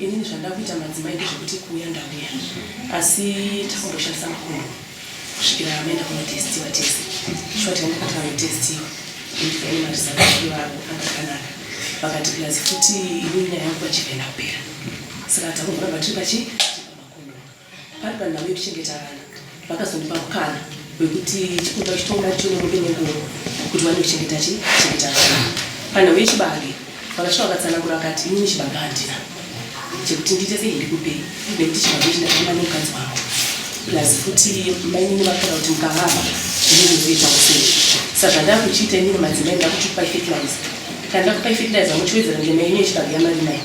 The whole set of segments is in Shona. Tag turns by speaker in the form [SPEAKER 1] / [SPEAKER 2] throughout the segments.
[SPEAKER 1] Inini zvandakuita madzimai ndezvekuti kuuya ndauya asi takamboshandisa makondomu kusvikira amaenda kunotestiwa tese short yandakati vanotestiwa ndika ine marizalti ivavo anga akanaka vakati plus futi inini nyaya yangu pachivhenda kupera saka takumboramba tiri pachi pamakondomu Pari panhau yekuchengeta vana, vakazondipa mukana wekuti chikunda chitonga chinomude nenguva kuti wane kuchengeta chi chengeta vana. Panhau yechibage, vakasvika vakatsanangura vakati inini chibage handina chekuti ndiite sei ndikupei nekuti chibage chindaama nemukadzi wangu plus futi mainini vakaona kuti mukavava inini ndoita kusei sa zvandakuchiita inini madzimai ndakuchikupai fertilizer kana ndakupai fertilizer muchiwedzera ndemainini yechibage yamari nayo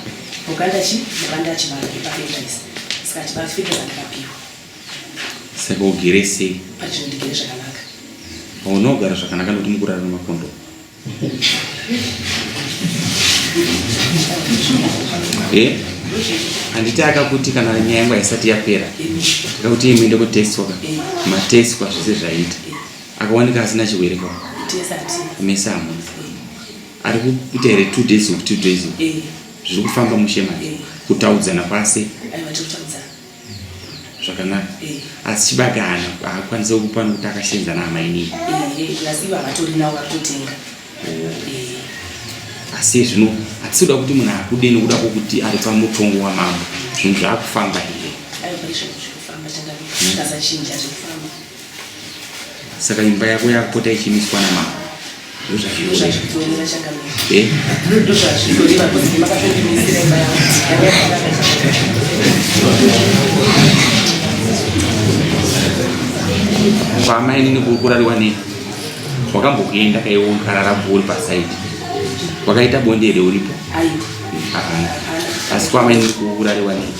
[SPEAKER 1] Uganda chi mabanda achibara ipafedaisi saka achibara fedha zandakapiwa
[SPEAKER 2] saka ugere sei pati zvinondigere
[SPEAKER 1] zvakanaka unogara
[SPEAKER 2] zvakanaka nokuti mukurara nemakondo eh? handiti akakuti kana nyaya yangu haisati yapera akakuti ye muende kutestwaka matestwa zvese zvaita akawanika asina chirwere kwa mese hamuna ari kuita here two days of two days eh. zviri kufamba mushe manje eh. kutaudzana kwase zvakanaka eh. asi chibage hana haakwanise kukupa nokuti akashenzana hamainii asi zvino hatisi kuda kuti munhu akude nokuda kwokuti ari pamutongo wamambo zvinhu zvaakufamba here saka imba yako yakupota ichimiswa namama eh? kwama inini kurarwa nei wakambokuenda kaiwonkarara bhori pasaidi wakaita bonde here uripo asi kwama inini kurarwa nei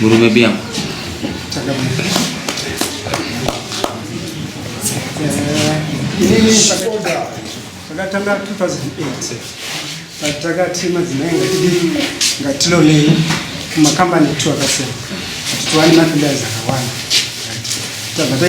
[SPEAKER 2] Guru baby yangu.
[SPEAKER 3] Takatanga 2008 patakati madzimai ngatidi ngatilonei kumakambani etu akasiyana kuti tiwane mafidas akawanda tabva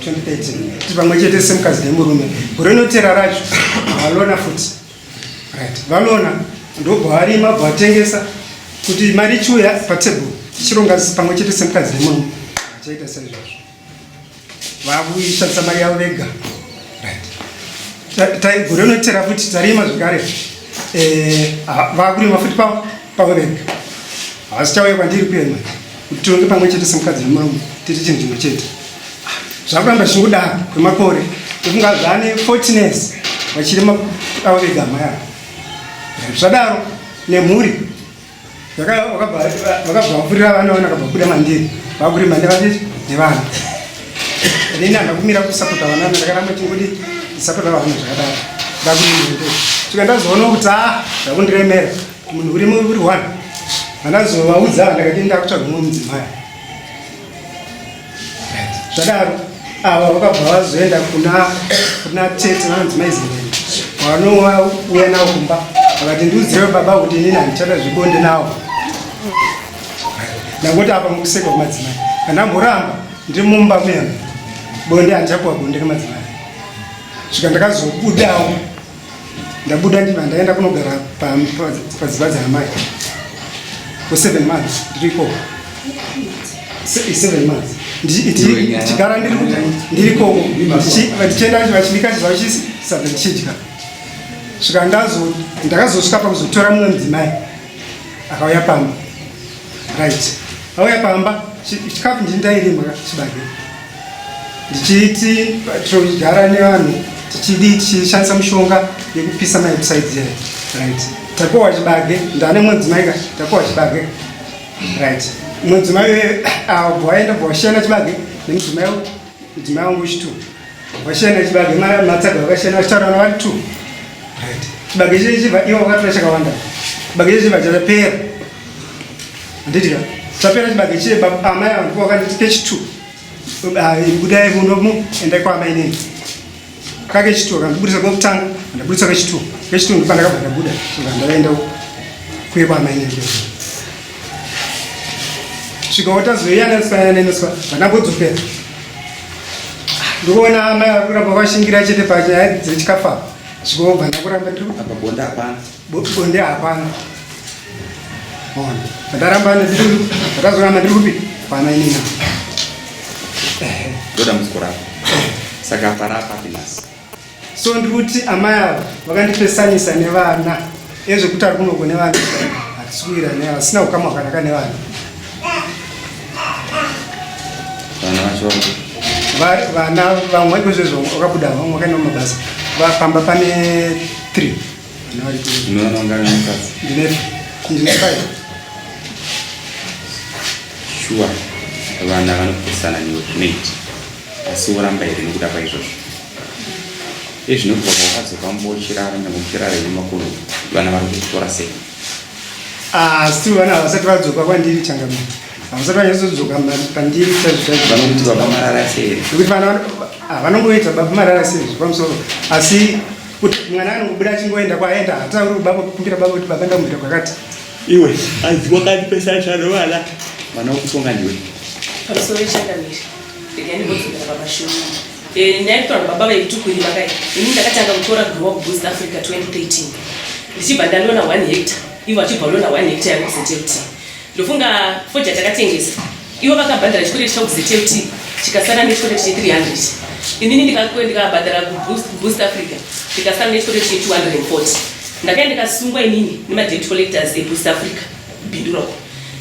[SPEAKER 3] 2013 kuti pamwe chete semukadzi nemurume gore rinotera racho valona futi right valona ndobva varima bva vatengesa kuti mari ichiuya patable tichironga pamwe chete semukadzi nemurume vachaita saizvozvo vakuishandisa mari yavo vega right gore rinotera futi tarima zvekare eh, vakurima futi pavo pavo vega havasichauya kwandiri kuema kuti tionge pamwe chete semukadzi nemurume tiri chinhu chimwe chete zvakuramba zvichingodaro kwemakore tofunga zvaane fortines vachiri avo vega amai avo zvadaro nemhuri vakabva vapfurira vana vana vakabva kuda mandiri vakuri mande vachiti nevana nini handa kumira kusapota vana ndakaramba chingodi ndisapota vana zvakadaro ndakuti ndikaenda zoona kuti a ah, zvakundiremera Munhu uri muri one vanazovaudza ndakati ndakutsvaga mumwe mudzimai zvadaro ava vakabva vazoenda kuna kuna tete vanodzimai zimene kwavanouya nawo kumba vakati ndiudzirewo baba kuti inini handichada zvebonde nawo ndangoti apa mukuseka kumadzimai kana mboramba ndiri mumba muyana bonde handichapuwa bonde nemadzimai svika ndakazobudawo ndabuda ndiva ndaenda kunogara padzimba dzaamai kweseven months ndiriko seven months ndichigara ndirikoko ndichienda vachibikachiva vachisabva ndichidya svika ndakazosvika pakuzotora mumwe mudzimai akauya pamba right auya pamba chikafu ndini ndairima chibage ndichiti togara nevanhu tichidi tichishandisa mushonga yekupisa maisaidi yayo right takowa chibage ndane mudzimai ka takowa chibage right mudzimai wee ah, bwaenda bwashena chibage nemudzimai Mudzimai wangu chitu vashana chibage matsaga vakashana vachitaura na vari two right chibage chii chiva ivo vakatora chakawanda chibage chii chiva chapera handidya chapera chibage chii amai vangu vakanditi kechitu ah, budai munomu endai kwaamai neni kake chituo kandibudisa kwekutanga ndabudisa kechituo kechituo ndipo ndakabva ndabuda ndakaenda kuye kwamainekeo svikawo tazoiyaniswa nenoswa vanambodzokera ndikuona amai vari kuramba vashingira chete panyaya dzechikafa zvikovhana kuramba ndiri apa bonda hapana Bonde hapana. Ona. Ndaramba nezvinhu. Ndakazoramba ndiri kupi? Pana ini na.
[SPEAKER 2] Ndoda muzikora. Saka para apa pinasi. So ndiri
[SPEAKER 3] kuti amai ava vakandipesanisa nevana. Ezvo kuti ari kunoko nevana. Atisikuira nevana. Sina ukama hwakanaka nevana. Vana vacho vana vamwe kozvezvo wakabuda vamwe wakaenda mumabasa vapamba pane three
[SPEAKER 2] shuwa vana vanopesana newe zvinoiti asi woramba here nekuda kwaizvozvo ezvinobva kwakadzoka mbochirara nekuchirara nemakono vana vari kutora sei
[SPEAKER 3] asi vana havasati vadzoka kwandiri changamira havasati vanyazodzoka pandiri chaizvochaizvovanokuti baba
[SPEAKER 2] marara sei nekuti vana
[SPEAKER 3] vanongoita baba marara sei zvepamusoro asi kuti mwana anokubuda achingoenda kwaenda hatauri kubaba kukumbira baba kuti baba ndamuita kwakati iwe
[SPEAKER 2] anzi kwakati pese achano vana vana wokutonga ndiwe pamusoro
[SPEAKER 1] changamiri regai ndimbodzokera pamashoni eh, ndaitaura baba vaitukwiri vakai ini ndakatanga kutora grow up boost africa 2013 ndichibva ndanoona one hector ivo achibva anoona one hector yakuzetepti Ndofunga fodya takatengesa ivo vakabhadhara chikwere chavo kuZLT chikasara nechikwere che 300 inini ndikakuwe ndikabhadhara kuboost africa ndikasara nechikwere che 240 ndakaenda ndikasungwa inini nemadebt collectors eboost africa bindura uko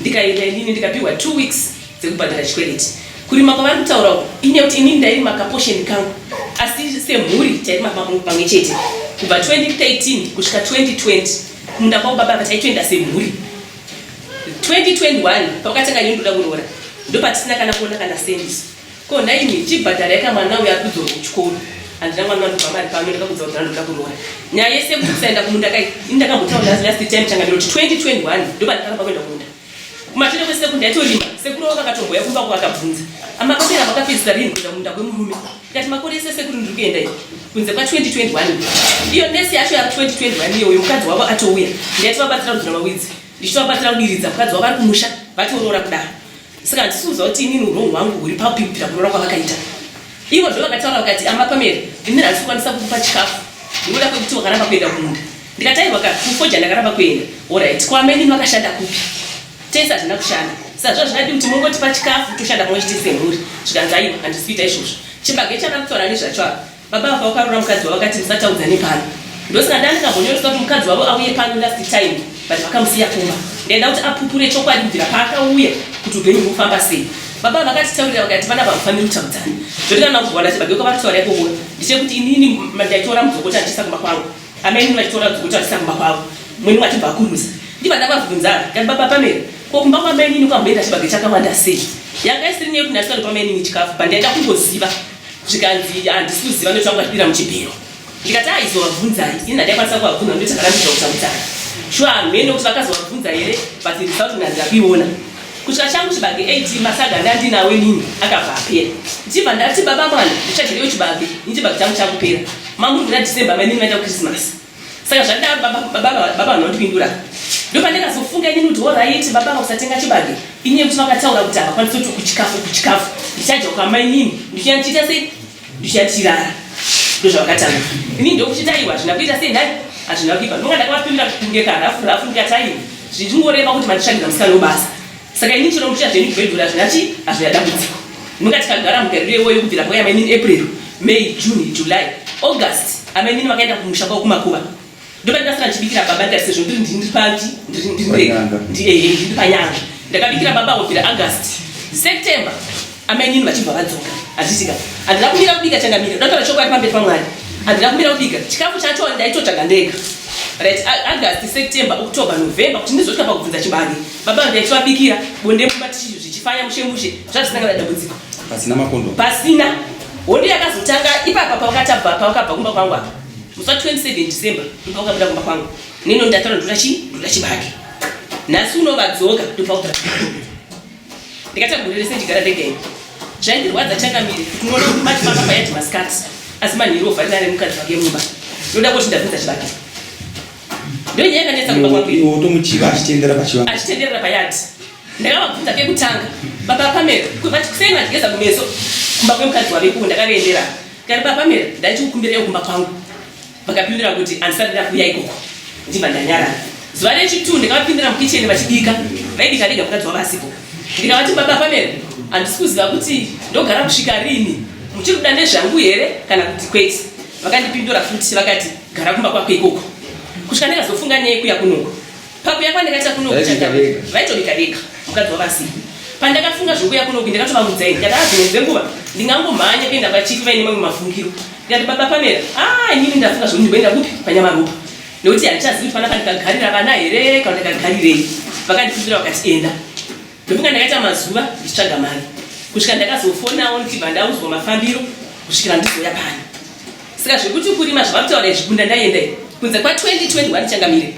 [SPEAKER 1] ndikaenda inini ndikapihwa two weeks dzekubhadhara chikwereti kurima kwavari kutaura uko ine kuti inini ndairima kaposheni kangu asi semhuri tairima pamwe chete kubva 2013 kusvika 2020 kumunda kwavo baba vataitoenda semhuri 2021 pakatanga nyini ndoda kuroora ndopatisina kana kuona kana sendis ko nhaimi chibhadhara yaka mwana uyo ari kudzorwa kuchikoro handina mwana wandobva mari pano ndakakudza kuti ndandoda kuroora nyaya yese kuti kusaenda kumunda kai ini ndakambotaura as last time tanga ndinoti 2021 ndopandikana pakuenda kumunda kumashure kwesekunda yatorima sekuru wakatomboya kumba kwakabvunza amakapera makapedzisa rini kuenda kumunda kwemurume Ndikati makore ese sekuru ndiri kuenda iyi kunze kwa 2021 iyo nesi yacho yava 2021 iyo uyo mukadzi wavo atouya ndiyati vabatsira kudzura mawidzi ndichitovabatsira kudiridza mukadzi wavo ari kumusha vatoroora kudaro saka handisuuza kuti inini urowu hwangu huri papi kupira kuroora kwavakaita ivo zvo vakataura vakati amapamere ini handisi kukwanisa kukupa chikafu ndinoda kwekuti wakaramba kuenda kumunda ndikatairwa ka kufoja ndakaramba kuenda orit kwameni vakashanda kupi tese hazvina kushanda saka zva zvingadi kuti mungotipa chikafu toshanda pamwe chete semhuri zvikanzi aiwa handisi kuita izvozvo chibage chakakutora ani zvacho apa baba vafa vakarora mukadzi wavo vakati musataudza nepano ndosaka ndanga ndikambonyoresa kuti mukadzi wavo auye pano last time but vakamusiya kumba ndaida kuti apupure chokwadi kubvira paakauya kuti upenyu hukufamba sei baba vakatitaurira vakati vana vakufanira kutaudzana zvoti kana kuzowana chibage kwavari kutaura ikoko ndichekuti inini ndaitora mudzokota ndichiisa kumba kwangu Amai mune vachitora dzokuti vachisa kumba kwavo mwini wachibva akurumisa ndivana vabvunzara kati baba pamera ko kumba kwamainini kwamboenda chibage chakawanda sei yanga isiri nyaya yekuti ndasikato pamainini chikafu pandaida kungoziva zvikanzi handisi kuziva ndochanga vachipira muchibhero ndikati aizovabvunzai ini handaikwanisa kuvabvunza ndotakarambidza kutamudzana shuwa hamheno kuti vakazovabvunza here but result nanzi akuiona Kutya changu chibage AT masaga ndandinawo inini akabva apera. Ndichibva ndati baba mwana ndichadyirewo chibage ini chibage changu chakupera. Mamuri kuda December mainini vaita Christmas. Saka zvandidaro baba baba baba vanhu vandipindura. Ndopandakazofunga inini kuti horaiti baba vakusatenga chibage inini kuti vakataura kuti havakwanisi kuti kuchikafu kuchikafu ndichadya kwamainini ndichienda ndichiita sei Ndichatirara ndozvakatanga ini ndokuchitaiwa hazvina kuita sei nhai hazvina kuipa ndonga ndakavapimira kunge karafu rafu ndikataiwa zvichingoreva kuti mandishandira musikana webasa saka ini chero muchita zvenyu kugwedhura hazvina chii hazvina dambudziko ndinonga tikagara mugariro iwoyo kubvira kwaiya mainini april may june july august amainini vakaenda kumusha kwavo kumakuva ndoba ndikasara ndichibikira baba ndikati sezvo ndiri ndiri papi ndiri ndiri Panyanga. ndi- eh, eh, ndiri panyanga ndakabikira baba kubvira august september amainini vachibva vadzoka handitika handina kumira kubika changamira ndataura chokwadi pamberi pamwari handina kumira kubika chikafu chacho ndaitotsvaga ndega right A- august september october november kuti ndizosvika pakubvunza chibage baba vangu ndaichivabikira bonde mumba tichi- zvichifaya mushe mushe zvazvisina kana dambudziko pasina makondomu pasina hondo yakazotanga ipapa pawakatabva pawakabva kumba kwangu apa Musi wa 27 December ndopa ukabuda kumba kwangu nino ndataura ndoda chi ndoda chibage nhasi unovadzoka ndopa uta ndikatagurire sendigara ndega ini zvaindirwadza changamire unoona kuti bati pamba payati masikati asi manhiro ovharira ari mukadzi wake mumba ndoda kuti ndabvunza chibage ndonyaya yakanetsa kumba kwangu iwe utomuchiva achitenderera pachivangu achitenderera payati ndakavabvunza kekutanga baba pamero kuti kuseni vandigeza kumeso kumba kwemukadzi wavekuwo ndakavaendera Kare paPamela ndaiti kukumbireyo kumba kwangu, vakapindura kuti handisati ndakuuya ikoko, ndichibva ndanyarara. Zuva rechitu ndikavapindira mukicheni vachibika, vaibika vega mukadzi wavo asipo. Ndikavati baba Pamela, handisi kuziva kuti ndogara kusvika rini, muchiri kuda nezvangu here kana kuti kwete? Vakandipindura futi vakati gara kumba kwako ikoko kusvika ndakazofunga nyaya yekuya kunoko. pakuya kwandakaita kunoku vaitobika vega mukadzi wavasii pandakafunga zvokuya kunoku ndakatovaudza ini ndikati azvimwe dzenguva ndingangomhanya kuenda pachifi vaine mamwe mafungiro ndikati baba pamera a ah, inini ndafunga zvokuti ndimboenda kupi panyamaropa nekuti handichazi kuti panapa ndikagarira vana here kana ndikagarirei vakandipindura vakati enda ndofunga ndakaita mazuva ndichitsvaga mari kusvika ndakazofonawo ndichibva ndauzwa mafambiro kusvikira ndizouya pano saka zvekuti kurima zvavakutaura izvi kunda ndaienda kunze kwa 2021 changamire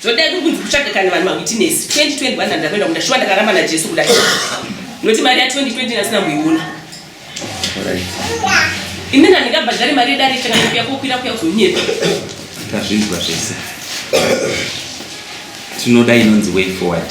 [SPEAKER 1] Zvodai kuri kunzi kutsvaga kana vanhu mawitness 2021 andakaenda kunda shuwa ndakaramba naJesu kuda noti mari ya 2020 nasina kuiona inini handingabhadhari mari yedare ichakanakuya kokwira kuya kunyepa tazvinzwa
[SPEAKER 2] zvese tinoda inonzi way forward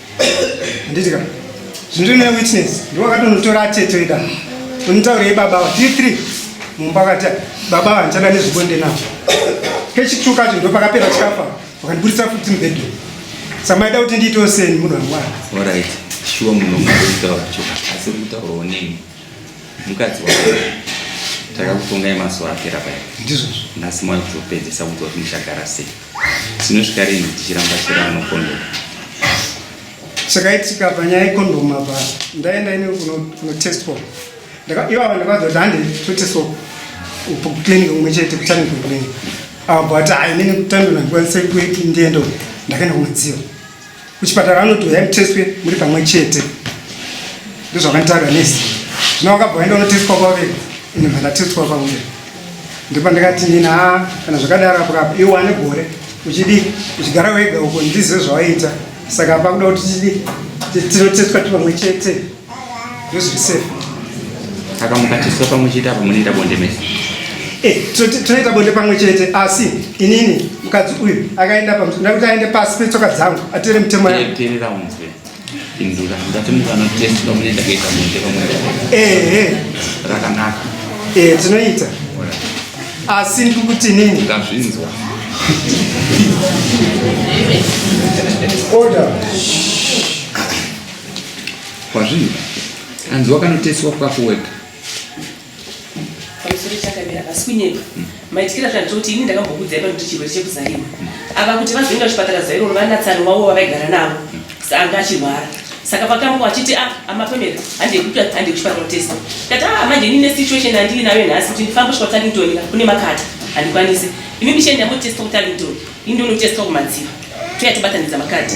[SPEAKER 3] Handiti ka? Zviri ne witness. Ndiwo akatonotora atete ida. Unitaurei baba wa D3? Mumba kati baba vanchada nezvibonde navo. Kechitu kacho ndo pakapera chikafa. Wakandiburitsa futi mubhedhu. Samaida kuti ndiitewo seni munhu wangwana. All right.
[SPEAKER 2] Shuwa munhu ungaitaura choka. Asi kutaura onei? Mukadzi wako. Takakutongai mazuva apera paya. Ndizvo. Nhasi
[SPEAKER 3] mwaizopedzisa
[SPEAKER 2] kudzwa kuti muchagara sei? Dzinosvika rinhi dzichiramba chero anokondoka?
[SPEAKER 3] Chakaitika panyaya yekondomu apa ndaenda ini kunotestwa ivava ndakavaza kuti hande totestwa kuclinic kumwe chete kutani kuclinic ava but hainini kutandona ndikwanise kuendiendo ndakaenda kumadziva kuchipatara vanoti huyai mutestwe muri pamwe chete ndozvakanitaura nesi zvino vakabva vaenda unotestwa kwavega ini vandatestwa kwavega ndipo ndikati nini ha kana zvakadaro apo kapo iwe wane gore uchidii uchigara wega uko ndizive zvawaiita saka pakuda kuti tidii tinotestwa tipamwe chete saka
[SPEAKER 2] mukatiswa pamwe chete apa munoita bonde mese eh,
[SPEAKER 3] tinoita bonde pamwe chete asi inini mukadzi uyu akaenda pakuti aende pasi petsoka dzangu atere mutemo yaterera unzwe
[SPEAKER 2] indura ndati mukanotesti pamunoenda kuita bonde pamwe ehe rakanaka eh, tinoita
[SPEAKER 3] asi ndikuti nini ndazvinzwa order
[SPEAKER 2] Kwazviri hanzi wakanoteswa kwako wega
[SPEAKER 1] pamusoro chakamira pasi kunyepa hmm. maitikira zvandicho kuti ini ndakambokudzai panoti chirwere chekuzarima hmm. ava kuti vazoenda kuchipatara zairo vanatsani wavo vavaigara navo hmm. saanga achirwara saka pakambo achiti a ah, amapemera handekuti hande kuchipatara kutesta kati a ah, manje ini nesituation handii nayo nhasi kuti ndifambe kusvika kutarlington kune makata handikwanisi ini mishe ndamotesta kutarlington ini ndonotesta kumadziva toya tobatanidza makati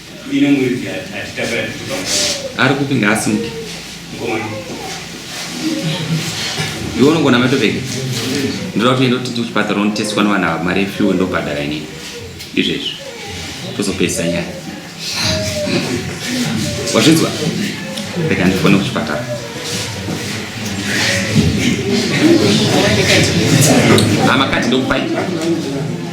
[SPEAKER 4] ari kupi ngaasimuke
[SPEAKER 2] iwe unogona matopeka ndoda kutoenda kuti kuchipatara unoteswa nevana ava mari yefuel ndobhadhara ini izvezvi tozopedzisa nyaya wazvinzwa rega ndifone kuchipatara amakati ndokupai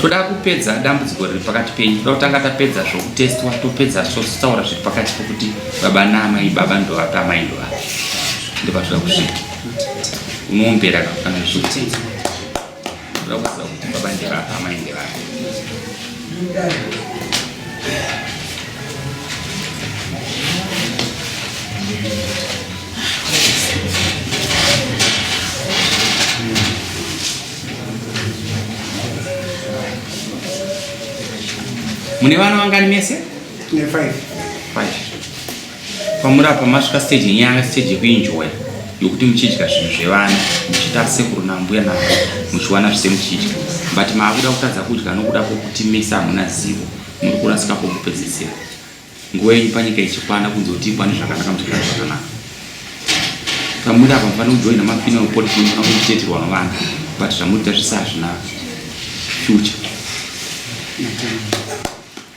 [SPEAKER 2] toda kupedza dambudziko riri pakati penyu toda kutanga tapedza zvokutestwa topedza totaura zviri pakati pokuti baba naamai baba ndovapi amai ndovapi ndopatoda kusvika unoombera kana zvii Ndokuziva kuti baba ndevapa amai ndevapa. Mune vana vangani mese? Tine five.
[SPEAKER 3] Five.
[SPEAKER 2] Kwamuri apa masvika stage yenyu yanga stage yekuenjoya yokuti muchidya zvinhu zvevana muchiita sekuru nambuya navo muchiwana zvise muchidya but maakuda kutadza kudya nokuda kwokuti mese hamuna zivo muri kurasika kwokupedzisira nguva yenyu panyika ichikwana kunze kuti ikwane zvakanaka muchigara zvakanaka pamuri apa mufane kujoina mafinal policy mufana kuiteterwa novana but zvamuita zvise hazvina future